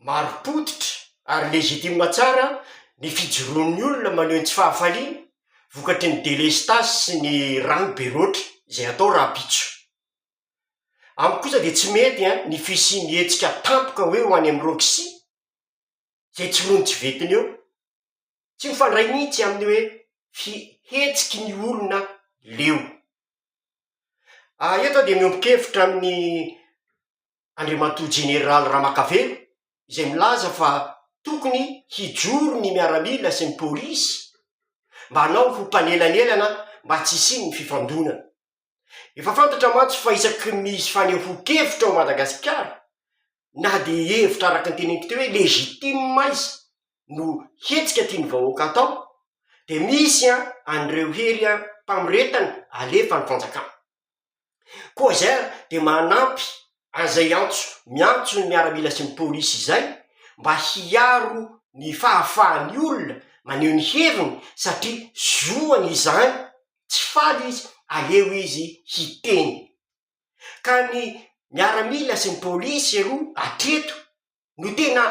marim-pototra ary legitime tsara ny fijoroan'ny olona maneho ny tsy fahafaliany vokatry ny delestazy sy ny rano be loatra izay atao rahampitso. Amiko kosa dia tsy mety an ny fisian'ny hetsika tampoka hoe ho any amin'ny roxy izay tsy roa ny tsy vetiny eo. Tsy mifandray mihitsy amin'ny hoe fihetsiky ny olona leo. Eto aho dia miombon-kevitra amin'i Andriamatoa Jeneraly Ramakavelo izay milaza fa tokony hijoro ny miaramila sy ny polisy mba hanao ho mpanelanelana mba tsy hisian'ny fifandonana. Efa fantatra mantsy fa isaky ny misy fanehoan-kevitra ao Madagasikara, na dia hevitra araka ny teneniko teo hoe legitime aza no hetsika tian'ny vahoaka atao, dia misy an, an'ireo hery an, mpamoretana alefa ny fanjakana. Koa izay ary dia manampy an'izay antso miantso ny miaramila sy ny polisy izay mba hiaro ny fahafahan'ny olona maneho ny heviny satria zoany izany. tsy faly izy, aleo izy hiteny. Ka ny miaramila sy ny polisy eroa hatreto no tena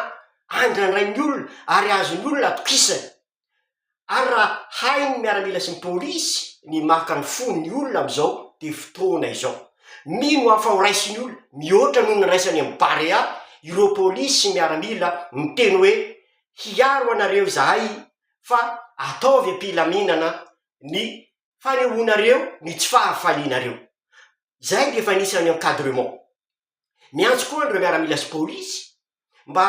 andrandrain'ny olona ary azon'ny olona atokisana. Ary raha hain'ny miaramila sy ny polisy ny maka ny fon'ny olona amin'izao dia fotoana izao. Mino aho fa ho raisin'ny olona mihoatra noho ny niraisany amin'ny Barea ireo polisy sy miaramila niteny hoe hiaro anareo izahay fa ataovy am-pilaminana ny fanehoanareo ny tsy fahafalianareo. Izay dia efa anisan'ny encadrement. Miantso koa an'ireo miaramila sy polisy mba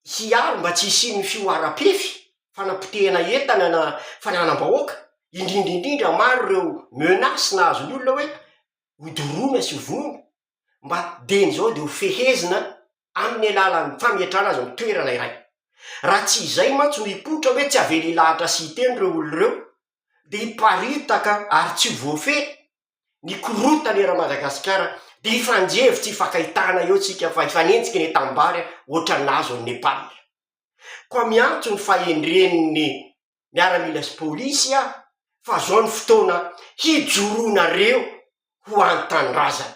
hiaro mba tsy hisian'ny fihoaram-pefy, fanapotehana entana na fananam-bahoaka, indrindra indrindra maro ireo menaces nahazo ny olona hoe ho doroana sy ho vono, mba dieny izao dia ho fehezina. amin'ny alalan'ny fametrahana azy amin'ny toerana iray. Raha tsy izay mantsy no hikotra hoe tsy avela hilahatra sy hiteny ireo olona ireo, dia hiparitaka ary tsy ho voafehy ny korontana eran'i Madagasikara, dia hifanjevo tsy hifankahitana eo isika fa hifanenjika eny an-tanimbary ohatra ny nahazo an'i Nepal. Koa miantso ny fahendren'ny miaramila sy polisy aho fa zao ny fotoana hijoroanareo ho an-tanindrazana.